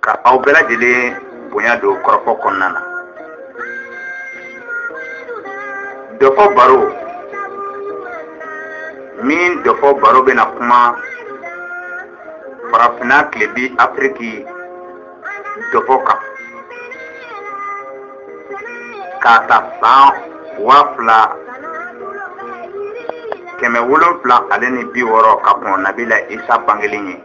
ka aw bɛɛ lajɛlen bonya don kɔrɔfɔ kɔnɔna na dɔfɔ baro min dɔfɔ baro bɛna kuma farafinna tilebi afiriki dɔfɔ kan k'a ta san waa fila kɛmɛ wolonfila ale ni bi wɔɔrɔ ka kɔn nabila isa bangelen ɲɛ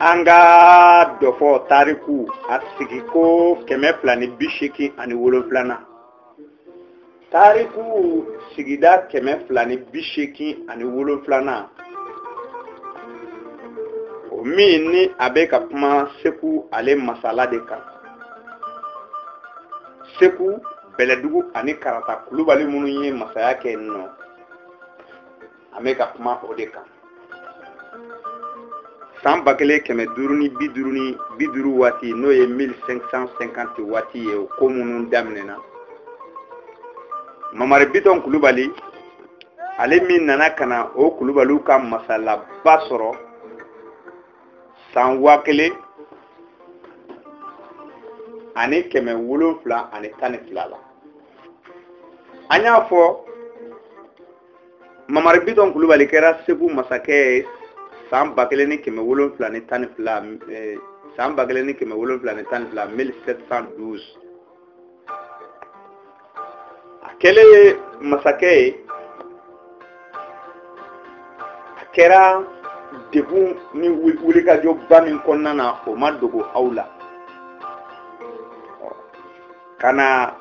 an ka dɔfɔ tariku a sigi ko kɛmɛ fila ni bi seegin ani wolonfilanan tariku sigida kɛmɛ fila ni bi seegin ani wolonfilanan o min ni a bɛ ka kuma segu ale masala de kan segu bɛlɛdugu ani karata kulubali minnu ye masaya kɛ yen nɔ an bɛ ka kuma o de kan san ba kelen kɛmɛ duuru ni bi duuru ni bi duuru waati n'o ye 1550 waati ye o ko minnu daminɛna mamari bitɔn kulubali ale min nana ka na o kulubaliw ka masalaba sɔrɔ san waa kelen ani kɛmɛ wolonfila ani tan ni fila la an y'a fɔ mamari bitɔn kulubali kɛra segu masakɛ ye san ba kelen ni kɛmɛ wolonfila ni tan ni fila 1712 a kɛlen ye masakɛ ye a kɛra degun ni wulikajɔba min kɔnɔna na o ma dogo aw la ka na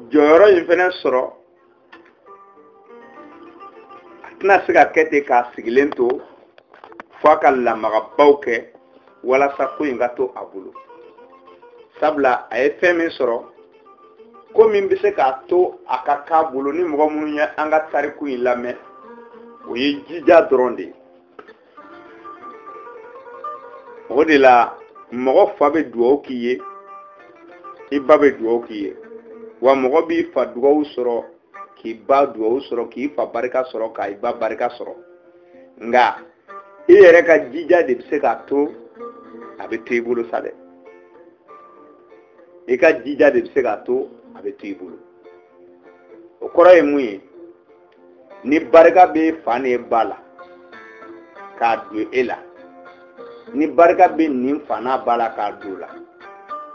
jɔyɔrɔ in fɛnɛ sɔrɔ a tɛna se ka kɛ ten k'a sigilen to fo a ka lamagabaw kɛ walasa ko in ka to a bolo sabula a ye fɛn min sɔrɔ ko min bɛ se k'a to a ka k'a bolo ni mɔgɔ minnu ye an ka tariku in lamɛn o ye jija dɔrɔn de ye o de la mɔgɔ fa bɛ dugawu k'i ye i ba bɛ dugawu k'i ye wa mɔgɔ b'i fa dugawu sɔrɔ k'i ba dugawu sɔrɔ k'i fa barika sɔrɔ k'i ba barika sɔrɔ nka i yɛrɛ ka jija de bɛ se k'a to a bɛ to i bolo sa dɛ i ka jija de bɛ se k'a to a bɛ to i bolo o kɔrɔ ye mun ye ni barika bɛ fa ni ba la k'a don e la ni barika bɛ nin fa n'a ba la k'a don o la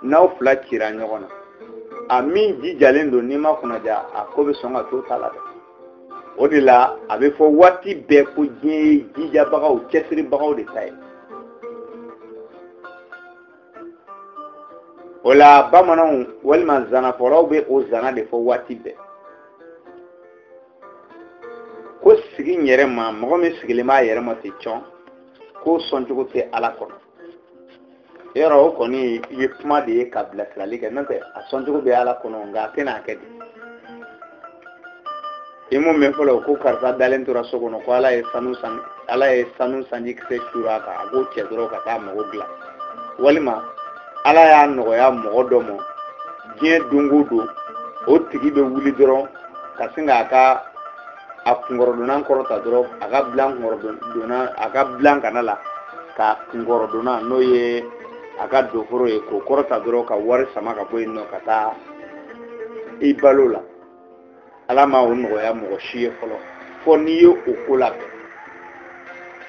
n'aw fila cira ɲɔgɔn na a min jijalen don n'i ma kunnaja a ko bɛ sɔn ka to o ta la dɛ o de la a bɛ fɔ waati bɛɛ ko diɲɛ ye jijabagaw cɛsiribagaw de ta ye o la bamananw walima zanafɔlaw bɛ o zana de fɔ waati bɛɛ ko sigi n yɛrɛ ma mɔgɔ min sigilen b'a yɛrɛ ma ten cɔn k'o sɔncogo tɛ ala kɔnɔ yɔrɔ o kɔni ye kuma de ye ka bilasirali kɛ n'o tɛ a sɔncogo bɛ ala kɔnɔ nka a tɛna a kɛ dɛ i m'o mɛn fɔlɔ ko karisa dalen tora so kɔnɔ ko ala ye sanu sanji kisɛ cur'a kan a k'o cɛ dɔrɔn ka taa mago dilan walima ala y'a nɔgɔya mɔgɔ dɔ ma diɲɛ don o don o tigi bɛ wuli dɔrɔn ka sin k'a ka a kunkɔrɔdonnan kɔrɔta dɔrɔn a ka dilan kunkɔrɔdonnan a ka dilan kana la k'a kunkɔrɔdonnan n'o ye a ka doforo ye k'o kɔrɔta dɔrɔn ka wari sama ka bɔ yen nɔ ka taa i balo la ala ma o nɔgɔya mɔgɔ si ye fɔlɔ fɔ n'i ye o ko labɛn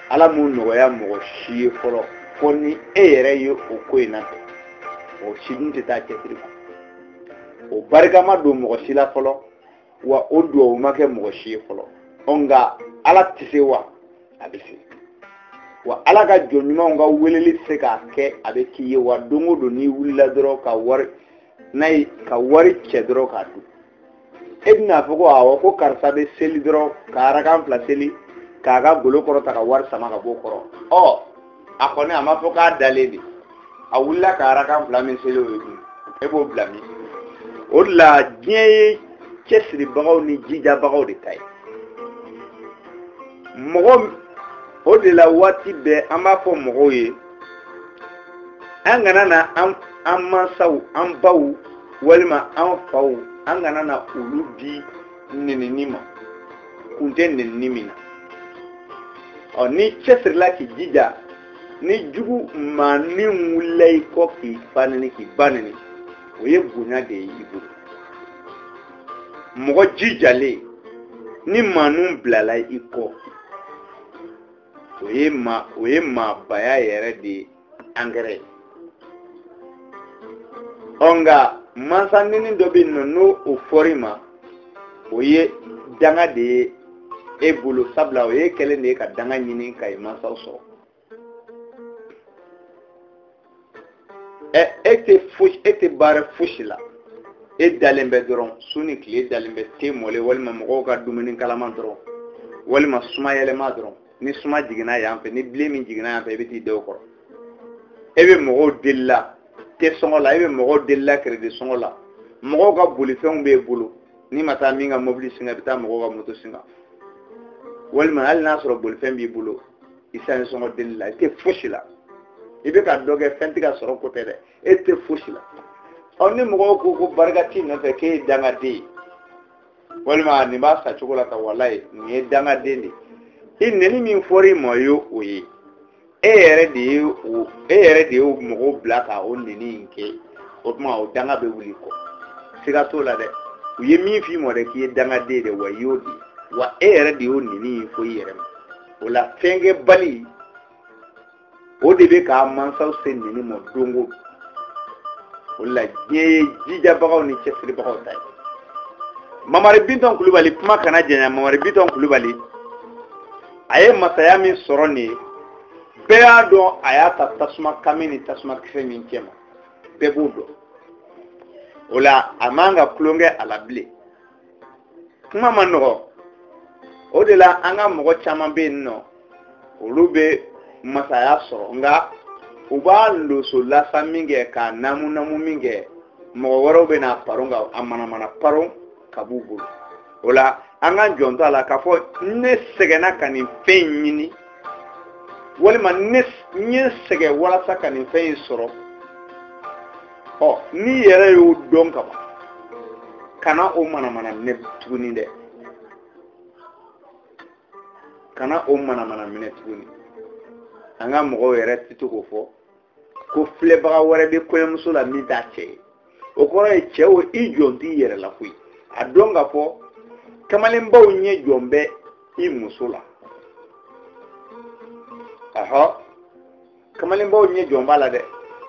ala m'o nɔgɔya mɔgɔ si ye fɔlɔ fɔ ni e yɛrɛ ye o ko in nabɛn o si dun tɛ taa cɛsiri kɔ o barika ma don mɔgɔ si la fɔlɔ wa o duwawu ma kɛ mɔgɔ si ye fɔlɔ ɔ nka ala tɛ se wa a bɛ se wa ala ka jɔn ɲumanw ka weleli se k'a kɛ a bɛ k'i ye wa don o don n'i wulila dɔrɔn ka wari n'a ye ka wari cɛ dɔrɔn k'a dun e bɛna fɔ ko awɔ ko karisa bɛ seli dɔrɔn ka arakan fila seli k'a ka golo kɔrɔta ka wari sama ka b'o kɔrɔ ɔ a kɔni a ma fɔ k'a dalen de a wulila ka arakan fila min seli o ye dun e b'o bila min o de la diɲɛ ye cɛsiribagaw ni jijabagaw de ta ye mɔgɔ o de la waati bɛɛ an b'a fɔ mɔgɔw ye an kana na an an mansaw an baw walima an faw an kana na olu di nenini ma kun tɛ nenini min na ɔ n'i cɛsirila k'i jija ni jugu maa ni wulila i kɔ k'i fa neni k'i ba neni o ye bonya de ye i bolo mɔgɔ jijalen ni maa ninnu bilala i kɔ o ye maa o ye maabaya yɛrɛ de ye angɛrɛ ye ɔ nka mansa neni dɔ bɛ yen nɔ ni o fɔr'i ma o ye danga de ye e bolo sabula o ye kɛlen de ye ka danga ɲini ka i mansaw sɔrɔ ɛ e tɛ fosi e tɛ baara fosi la e dalen bɛ dɔrɔn su ni tile i dalen bɛ te mɔlen walima mɔgɔw ka dumuni kalama dɔrɔn walima suma yɛlɛma dɔrɔn ni suma jiginna yan fɛ ni bilen min jiginna yan fɛ i bɛ t'i da o kɔrɔ e bɛ mɔgɔw deli la te sɔngɔ la e bɛ mɔgɔw deli la keredi sɔngɔ la mɔgɔw ka bolifɛnw b'e bolo n'i ma taa min ka mobili singa i bɛ taa mɔgɔw ka moto singa walima hali n'a sɔrɔ bolifɛn b'i bolo esansi sɔngɔ deli la i tɛ fosi la i bɛ ka dɔ kɛ fɛn tɛ ka sɔrɔ ko tɛ dɛ e tɛ fosi la ɔ ni mɔgɔw ko ko barika t'i nɔfɛ k'e ye dangaden ye walima nin b'a sa cogo la ko walayi nin ye dangaden de ye i neni min fɔra i ma o ye o ye e yɛrɛ de ye o e yɛrɛ de ye mɔgɔw bila ka o neni in kɛ o tuma o danga bɛ wuli i kɔ siga t'o la dɛ u ye min f'i ma dɛ k'i ye dangaden de wa i y'o de ye wa e yɛrɛ de y'o neni in fɔ i yɛrɛ ma o la fɛnkɛbali o de bɛ k'a mansaw se neni ma don o don o la diɲɛ ye jijabagaw ni cɛsiribagaw ta ye mamari bitɔn kulubali kuma kana janya mamari bitɔn kulubali a ye masaya min sɔrɔ nin ye bɛɛ y'a dɔn a y'a ta tasuma kami ni tasuma kisɛ min cɛ ma bɛɛ b'o dɔn o la a man ka tulonkɛ a la bilen kuma ma nɔgɔ o de la an ka mɔgɔ caman bɛ yen nɔ olu bɛ masaya sɔrɔ nka u b'a loso lasa minkɛ k'a namu namu minkɛ mɔgɔ wɛrɛw bɛ na a paron ka a manamana paron ka b'u bolo o la an ka jɔntɔ a la k'a fɔ ne sɛgɛnna ka nin fɛn in ɲini walima ne n ye n sɛgɛn walasa ka nin fɛn in sɔrɔ ɔ n'i yɛrɛ y'o dɔn ka ban kana o manamana minɛ tuguni dɛ kana o manamana minɛ tuguni an ka mɔgɔw yɛrɛ tɛ to k'o fɔ ko filɛbaga wɛrɛ bɛ kɔɲɔmuso la min t'a cɛ ye o kɔrɔ ye cɛ o i jɔnt'i yɛrɛ la koyi a dɔn k'a fɔ kamalenbaw ɲɛ jɔn bɛ i muso la ahɔ kamalenbaw ɲɛ jɔn b'a la dɛ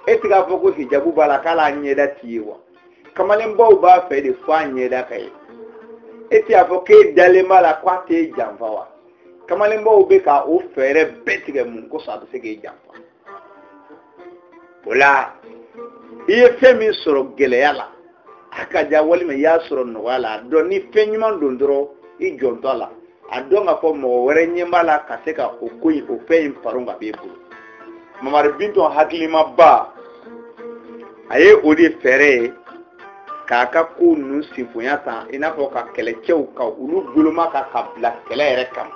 e ti k'a fɔ ko hijabu b'a la k'a la ɲɛda ti ye wa kamalenbaw b'a fɛ de fo a ɲɛda ka ye e ti k'a fɔ k'e dalen b'a la ko a t'e janfa wa kamalenbaw bɛ ka o fɛɛrɛ bɛɛ tigɛ mun kosɔn a bɛ se k'e janfa o la i ye fɛn min sɔrɔ gɛlɛya la a ka ja walima i y'a sɔrɔ nɔgɔya la a dɔn ni fɛn ɲuman don dɔrɔn i jɔntɔ a la a dɔn k'a fɔ mɔgɔ wɛrɛ ɲɛ b'a la ka se ka o ko in o fɛn in paron ka b'e bolo mamari bintɔn hakilimaba a ye o de fɛɛrɛ ye k'a ka kow ninnu senbonya tan i n'a fɔ ka kɛlɛcɛw ka olu boloma ka ka bila kɛlɛ yɛrɛ kama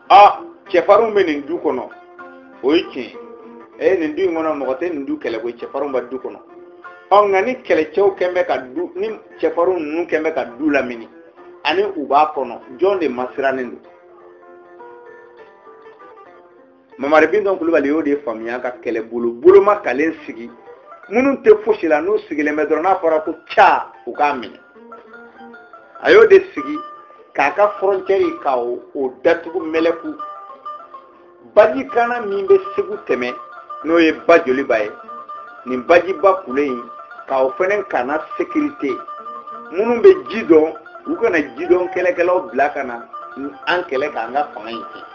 a cɛfarinw bɛ nin du kɔnɔ o ye tiɲɛ ye ee nin du in kɔnɔ mɔgɔ tɛ nin du kɛlɛ koyi cɛfarinw bɛ du kɔnɔ ɔ nka ni kɛlɛcɛw kɛn bɛ ka du ni cɛfarinw ninnu kɛn bɛ ka du lamini ani u b'a kɔnɔ jɔn de masirannen don mamari bindɔn kulubali y'o de faamuya ka kɛlɛbolo boloma kalen sigi minnu tɛ fosi la n'u sigilen bɛ dɔrɔn n'a fɔra ko ca u k'a minɛ a y'o de sigi k'a ka fɔrɔncɛri ka o datugu mɛlɛku baji kana min bɛ segu tɛmɛ n'o ye ba joliba ye nin bajiba kule in ka o fana kana sekirite minnu bɛ ji dɔn u kana ji dɔn kɛlɛkɛlaw bila ka na an kɛlɛ k'an ka fanga in tiɲɛ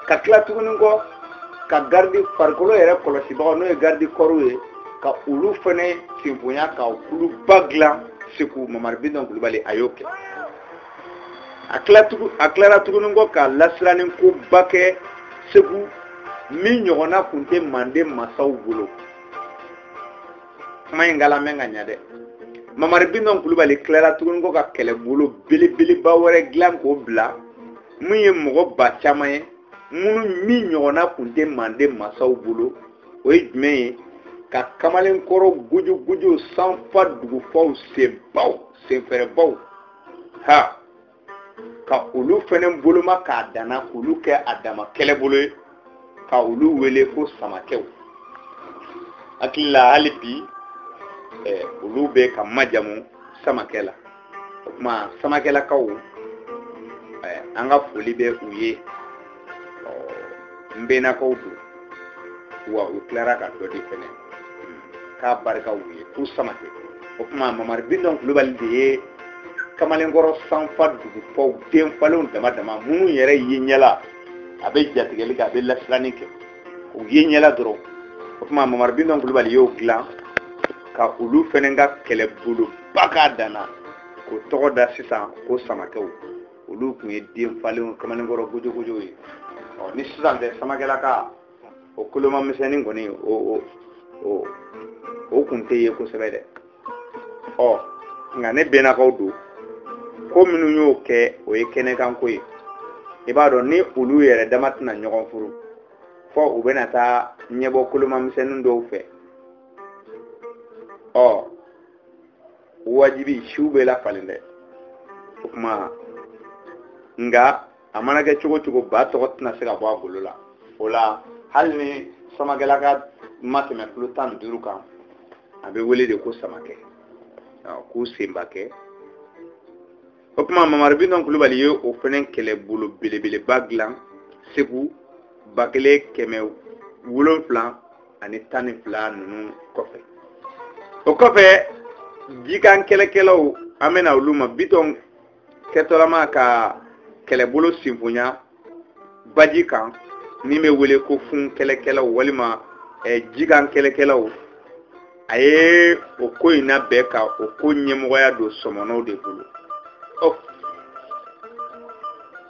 ka tila tuguni kɔ ka garidi farikolo yɛrɛ kɔlɔsibagaw n'o ye garidi kɔriw ye ka olu fɛnɛ senbonya ka kuluba dilan segu mamari bidɔn kulubali a y'o kɛ a tilara tuguni kɔ ka lasiranin koba kɛ segu min ɲɔgɔnna tun tɛ manden masaw bolo kuma in kalamɛn ka ɲa dɛ mamari bindɔn kulubali tilara tuguni kɔ ka kɛlɛbolo belebeleba wɛrɛ dilan k'o bila min ye mɔgɔ ba caman ye minnu min ɲɔgɔnna kun tɛ manden masaw bolo o ye jumɛn ye ka kamalenkɔrɔ gojogojo sanfa dugufaw senbaw senfɛrɛbaw ha ka olu fɛnɛ boloma k'a danna k'olu kɛ a dama kɛlɛbolo ye ka olu wele ko samakɛw hakili la hali bi eh, olu bɛ ka majamu samakɛ la o tuma samakɛlakaw eh, an ka foli bɛ u ye n bɛnnakaw don wa u tilara ka dɔ de fɛnɛ k'a barika u ye ko samakɛ o tuma mamari bindɔn kulubali de ye kamalenkɔrɔ sanfa dugufaw den falenw dama dama minnu yɛrɛ ye ɲɛla a bɛ jatigɛli kɛ a bɛ lasiranni kɛ u ye ɲɛla dɔrɔn o tuma mamari bindɔn kulubali y'o dilan ka olu fɛnɛ ka kɛlɛboloba k'a danna k'o tɔgɔ da sisan ko samakɛw olu tun ye den falenw kamalenkɔrɔ gojogojo ye ɔ ni sisan tɛ samakɛlaka o kolomamisɛnnin kɔni o o o o kun tɛ ye kosɛbɛ dɛ ɔ nka ne bɛnnakaw don ko minnu y'o kɛ o ye kɛnɛkanko ye i b'a dɔn ni olu yɛrɛ dama tɛna ɲɔgɔn furu fɔ u bɛna taa ɲɛbɔ kolomamisɛnnin dɔw fɛ ɔ wajibi siw bɛ lafalen dɛ o tuma nka a mana kɛ cogo cogo ba tɔgɔ tɛna se ka bɔ a golo la o la hali ni samakɛlaka ma tɛmɛ kilo tan ni duuru kan a bɛ wele de ko samakɛ ko senbakɛ o tuma mamari bindɔn kulubali ye o fɛnɛ kɛlɛbolo belebeleba dilan segu ba kelen kɛmɛ wolonfila ani tan ni fila ninnu kɔfɛ o kɔfɛ jikan kɛlɛkɛlaw an bɛ na olu ma bitɔn kɛtɔlama ka kɛlɛbolo sinfonya baji kan min bɛ wele ko fun kɛlɛkɛlaw walima eh, jikan kɛlɛkɛlaw a ye o ko in labɛn ka o ko ɲɛmɔgɔya don sɔmɔnɔw de bolo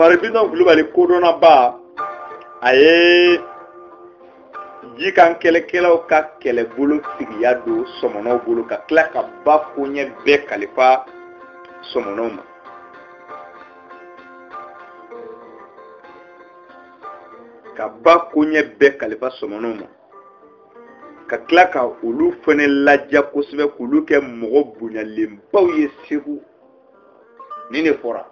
mamari bitɔn kulubali kodɔnnaba a ye jikan kɛlɛkɛlaw ka kɛlɛbolo tigiya don sɔmɔnɔw bolo ka tila ka ba koɲɛ bɛɛ kalifa sɔmɔnɔw ma ka ba koɲɛ bɛɛ kalifa sɔmɔnɔw ma ka tila ka olu fana laja kosɛbɛ k'olu kɛ mɔgɔ bonyalenbaw ye segu ni ne fɔra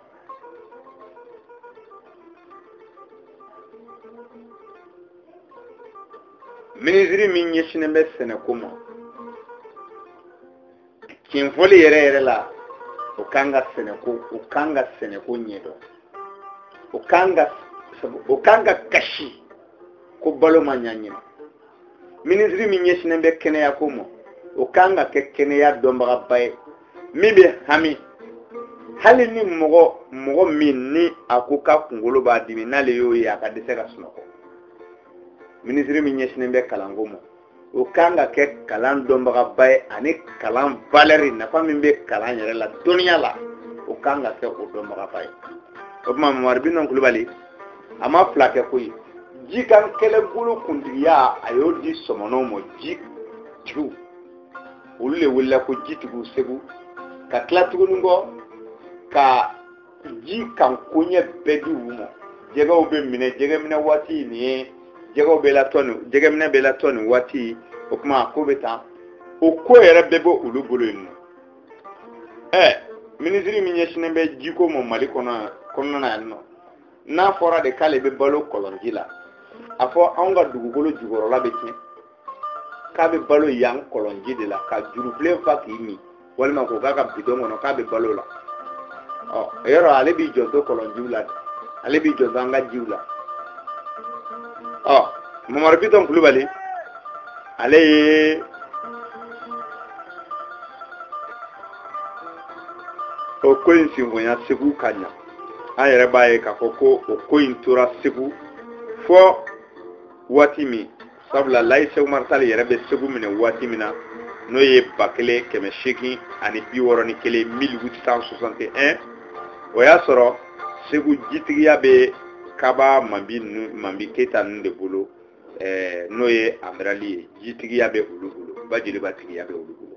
minisiri min ɲɛsinnen bɛ sɛnɛko ma tiɲɛfɔli yɛrɛ yɛrɛ la o kan ka sɛnɛko o kan ka sɛnɛko ɲɛdɔn o kan ka o kan ka kasi ko balo ma ɲa ɲinan minisiri min ɲɛsinnen bɛ kɛnɛyako ma o kan ka kɛ kɛnɛya dɔnbagaba ye min bɛ hami hali ni mɔgɔ mɔgɔ min ni a ko k'a kunkolo b'a dimi n'ale y'o ye a ka dɛsɛ ka sunɔgɔ minisiri min ɲɛsinnen bɛ kalanko ma o kan ka kɛ kalan dɔnbagaba ye ani kalan valɛri nafa min bɛ kalan yɛrɛ la dɔnniya la o kan ka kɛ o dɔnbagaba ye o tuma mamari bitɔn kulubali a ma fila kɛ koyi jikan kɛlɛbolo kuntigiya a y'o di sɔmɔnɔw ma jitigiw olu de welela ko jitigiw segu ka tila tuguni kɔ ka ji kan koɲɛ bɛɛ di u ma jɛgɛw bɛ minɛ jɛgɛminɛ waati nin ye jɛgɛw bɛ latɔn nin jɛgɛminɛ bɛ latɔn nin waati o tuma a ko bɛ tan o ko yɛrɛ bɛɛ bɛ olu bolo yen nɔ ɛ minisiri min ɲɛsinnen bɛ jiko ma mali kɔnɔna na yan nɔ n'a fɔra de k'ale bɛ balo kɔlɔnji la a fɔ anw ka dugukolo jukɔrɔla bɛ tiɲɛ k'a bɛ balo yan kɔlɔnji de la ka jurufilen fa k'i min walima k'o k'a ka bidɔn kɔnɔ k'a bɛ balo la o yɔrɔ ale b'i jɔnto kɔlɔnjiw la ale b'i jɔnto an ka jiw la ɔ mamari bitɔn kulubali ale ye o ko in sinfonya segu ka ɲa an yɛrɛ b'a ye k'a fɔ ko o ko in tora segu fɔ waati min sabula layi seku umari tali yɛrɛ bɛ segu minɛ waati min na n'o ye ba kelen kɛmɛ seegin ani bi wɔɔrɔ ni kelen 1861 o y'a sɔrɔ segu jitigiya bɛ kaba manbi manbi keyita ninnu de bolo eh, n'o ye amirali ye jitigiya bɛ olu bolo ba jeliba tigiya bɛ olu bolo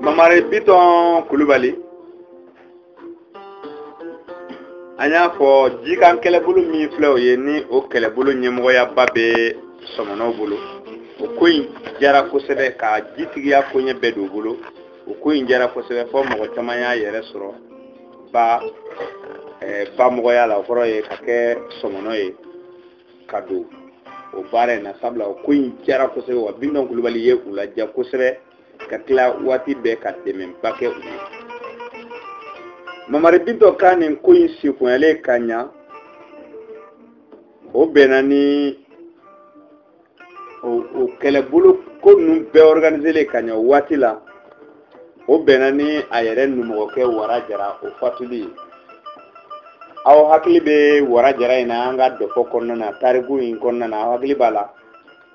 mamari bitɔn kulubali an y'a fɔ jikan kɛlɛbolo min filɛ o ye ni o kɛlɛbolo ɲɛmɔgɔyaba bɛ sɔmɔnɔw bolo o ko in diyara kosɛbɛ ka jitigiya koɲɛ bɛɛ don u bolo o ko in diyara kosɛbɛ fo mɔgɔ caman y'a yɛrɛ sɔrɔ ba bamɔgɔya la o kɔrɔ ye ka kɛ sɔmɔnɔ ye ka don o baara in na sabula o ko in diyara kosɛbɛ wa bitɔn kulubali ye u ladiya kosɛbɛ ka tila waati bɛɛ ka dɛmɛba kɛ u ye mamari bitɔn ka nin ko in sekunyalen ka ɲa o bɛnna ni o kɛlɛbolo ko ninnu bɛɛ organiselen ka ɲa waati la o bɛnna ni a yɛrɛ numɔgɔkɛ wara jara o fatuli ye aw hakili bɛ wara jara in na an ka dɔfɔ kɔnɔna na tariku in kɔnɔna na aw hakili b'a la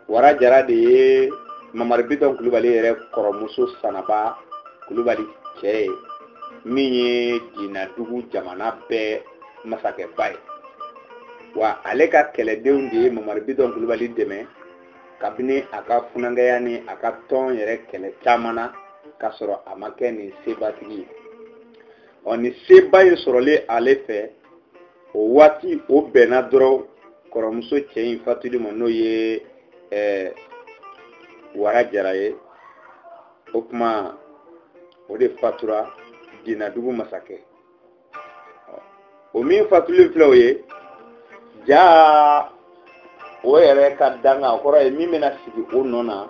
wara jara de ye mamari bitɔn kulubali yɛrɛ kɔrɔmuso sanaba kulubali cɛ ye min ye dinadugu jamana bɛɛ masakɛba ye wa ale ka kɛlɛdenw de ye mamari bitɔn kulubali dɛmɛ kabini a ka funankɛya ni a ka tɔn yɛrɛ kɛlɛ caman na k'a sɔrɔ a ma kɛ nin sebatigi ye ɔ nin seba in sɔrɔlen ale fɛ o waati o bɛnna dɔrɔn kɔrɔmuso cɛ in fatuli ma n'o ye ɛɛ eh, wara jara ye o tuma o de fatura dinadugu masakɛ o min fatuli filɛ o ye jaa o yɛrɛ ka dankan o kɔrɔ ye min bɛna sigi o nɔ na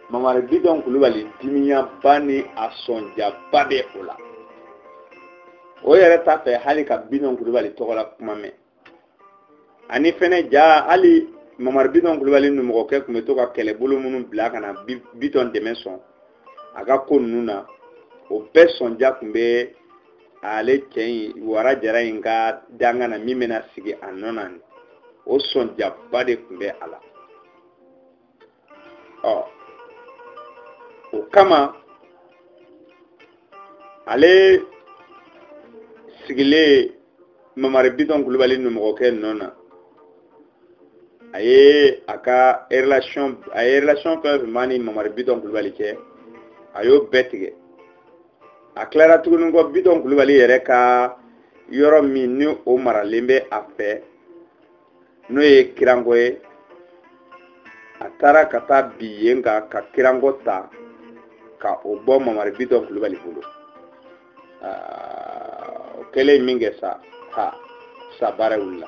mamari bitɔn kulubali dimiyaba ni a sɔnjaba bɛ o la o yɛrɛ t'a fɛ hali ka bitɔn kulubali tɔgɔ la kuma mɛn ani fɛnɛ jaa hali mamari bitɔn kulubali numɔgɔkɛ tun bɛ to ka kɛlɛbolo minnu bila ka na bitɔn dɛmɛ sɔn a ka ko ninnu na o bɛɛ sɔnja tun bɛ ale cɛ in wara jara in ka dankan na min bɛna sigi a nɔ na nin o sɔnjaba de tun bɛ a la ɔ o kama ale sigilen mamari bitɔn kulubali numɔgɔkɛ nɔ na a ye a ka a ye relation fɛn fɛn b'a ni mamari bitɔn kulubali cɛ a y'o bɛɛ tigɛ a tilara tuguni kɔ bitɔn kulubali yɛrɛ ka yɔrɔ min ni o maralen bɛ a fɛ n'o ye kirango ye a taara ka taa bin yen kan ka kirango ta ka o bɔ mamari bitɔn kulubali bolo o kɛlen min kɛ sa ha sa baara wulila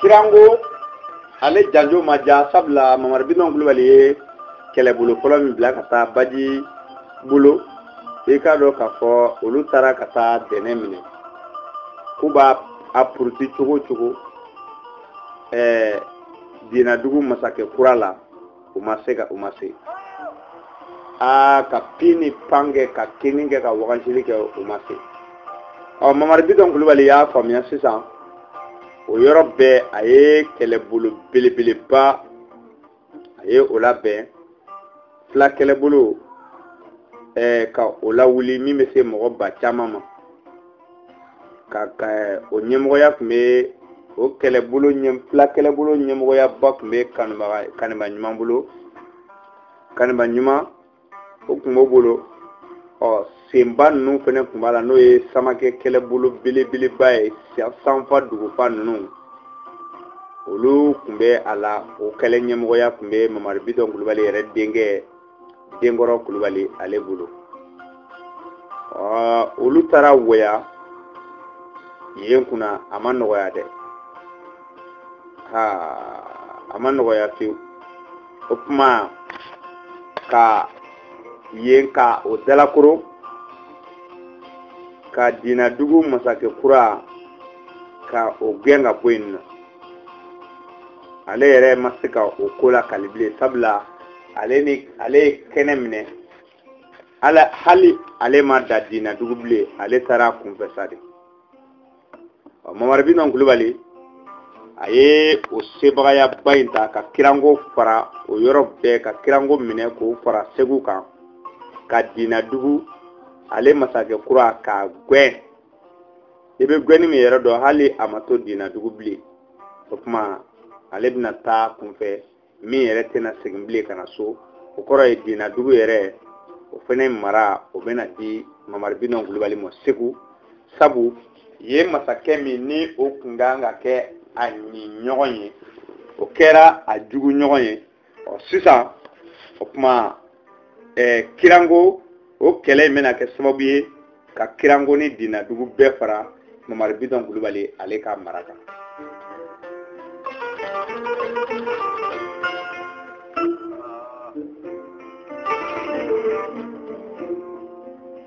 kirango ale janjo ma ja sabula mamari bitɔn kulubali ye kɛlɛbolo fɔlɔ min bila ka taa baji bolo i k'a dɔn k'a fɔ olu taara ka taa dɛnɛ minɛ k'u b'a puruti cogo o cogo ɛɛ dinadugu masakɛ kura la u ma se ka u ma se aa ka pin ni pan kɛ ka kinni kɛ ka wagasili kɛ u ma se ɔ mamari bitɔn kulubali y'a faamuya sisan o yɔrɔ bɛɛ a ye kɛlɛbolo belebeleba a ye o labɛn fila kɛlɛbolo eh, ka o lawuli min bɛ se mɔgɔ ba caman ma ka ka eh, o ɲɛmɔgɔya tun bɛ o fila kɛlɛbolo ɲɛmɔgɔyaba tun bɛ kaniba ɲuman bolo kaniba ɲuman o tun b'o bolo ɔ senba ninnu fana tun b'a la n'o ye samakɛ kɛlɛbolo belebeleba ye sanfa dugufa ninnu olu tun bɛ a la o kɛlɛ ɲɛmɔgɔya tun bɛ mamari bitɔn kulubali yɛrɛ denkɛ denkɔrɔ kulubali ale bolo olu taara wɛya yen kunna a ma nɔgɔya dɛ ha a ma nɔgɔya fiyewu o tuma ka yen ka o dalakoro ka dinadugu masakɛ kura ka o gɛn ka bɔ yen nɔ ale yɛrɛ ma se ka o ko lakali bilen sabula ale ni ale ye kɛnɛ minɛ hali ale ma da dinadugu bilen ale taara kunfɛ sa de mamari bitɔn kulubali a ye o sebagayaba in ta ka kirango fara o yɔrɔ bɛɛ ka kirango minɛ k'o fara segu kan ka dinadugu ale masakɛ kura k'a gwɛn i bɛ gwɛnni min yɛrɛ dɔn hali a ma to dinadugu bilen o kuma ale bɛna taa kunfɛ min yɛrɛ tɛna segin bilen ka na so o kɔrɔ ye dinadugu yɛrɛ o fana mara o bɛna di mamari bitɔn kulubali ma segu sabu ye masakɛ min ni o kun ka kan ka kɛ a ɲin ɲɔgɔn ye o kɛra a jugu ɲɔgɔn ye ɔ sisan o kuma eh, kirango o kɛlɛ in bɛna kɛ sababu ye ka kirango ni dinadugu bɛɛ fara mamari bitɔn kulubali ale ka mara kan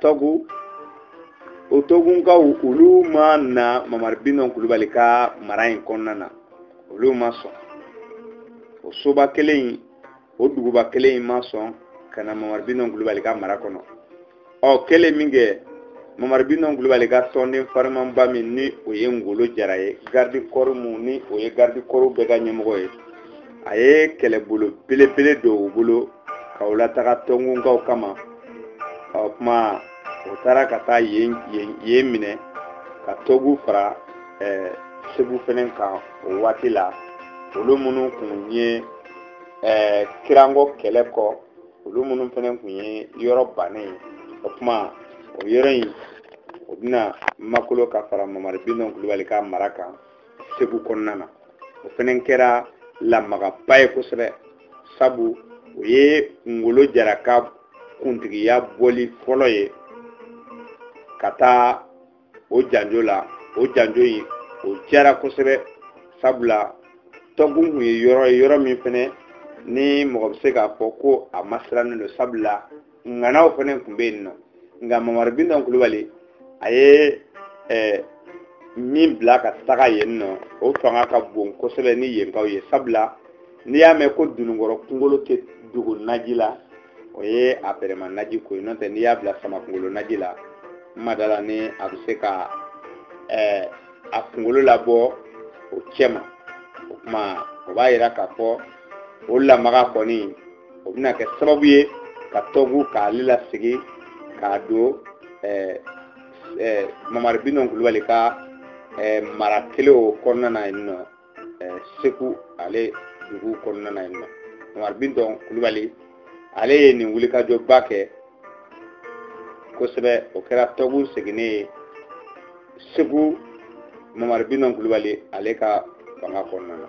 tɔgu o tɔgunkaw olu ma na mamari bitɔn kulubali ka mara in kɔnɔna na olu ma sɔn o soba kelen in o duguba kelen in ma sɔn ka na mamari bitɔn kulubali ka mara kɔnɔ ɔ kɛlen min kɛ mamari bitɔn kulubali ka tɔnden farimanba min ni o ye ngolo jara ye garidi kɔri mun ni o ye garidi kɔriw bɛɛ ka ɲɛmɔgɔ ye a ye kɛlɛbolo belebele don o bolo ka o lataga tɔgunkaw kama o kuma o taara ka taa yen yen yen minɛ ka tɔgu fara ɛɛ eh, segu fɛnɛ kan o waati la olu minnu kun ye ɛɛ eh, kirango kɛlɛ kɔ olu minnu fɛnɛ kun ye yɔrɔ bannen ye o kuma o yɔrɔ in o bɛna makolo ka fara mamari bitɔn kulubali ka mara kan segu kɔnɔna na o fɛnɛ kɛra lamagaba ye kosɛbɛ sabu o ye ngolo jara ka kuntigiya bɔli fɔlɔ ye ka taa o janjo la o janjo in o jara kosɛbɛ sabula tɔgu kun ye yɔrɔ ye yɔrɔ min fɛnɛ ni mɔgɔ bɛ se k'a fɔ ko a masirannen don sabula ŋanaw fɛnɛ kun bɛ yen nɔ nka mamari bitɔn kulubali a ye eh, min bila ka taga yen nɔ o fanga ka bon kosɛbɛ ni yenkaw ye sabula n'i y'a mɛn ko dununkɔrɔ kunkolo tɛ dogo naji la o ye a bɛrɛma naji ko ye n'o tɛ n'i y'a bila sama kunkolo naji la n ma da la ni a bɛ se ka eh, a kunkolo labɔ o cɛma o kuma o b'a yira k'a fɔ o lamaga kɔni o bɛna kɛ sababu ye ka tɔgu k'ale lasegin k'a don mamari bitɔn kulubali ka mara kelen o kɔnɔna na yen nɔ segu ale dugu kɔnɔna na yen nɔ mamari bitɔn kulubali ale ye nin wulikajɔba kɛ kosɛbɛ o kɛra tɔgu seginnen ye segu mamari bitɔn kulubali ale ka fanga kɔnɔna na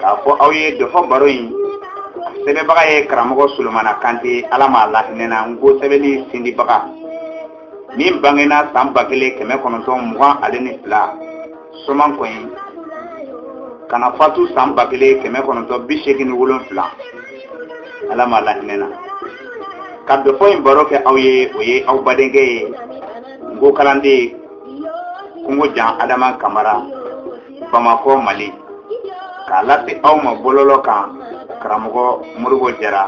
k'a fɔ aw ye dɔfɔ baro in sɛbɛnbaga ye karamɔgɔ solomana kante ala m'a lahinɛ na nko sɛbɛnni sindibaga min bangena san ba kelen kɛmɛ kɔnɔntɔn mugan ale ni fila somankɔyi ka na fatu san ba kelen kɛmɛ kɔnɔntɔn bi seegin ni wolonfila ala m'a lahinɛ na ka dɔfɔ in baro kɛ aw ye o ye aw badenkɛ ye nko kalanden kungo jan adama kamara bamakɔ mali k'a lase aw ma bɔlɔlɔ kan karamɔgɔ modibo jara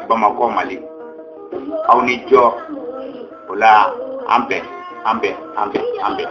bamakɔ mali aw ni jɔ o la an bɛn an bɛn an bɛn an bɛn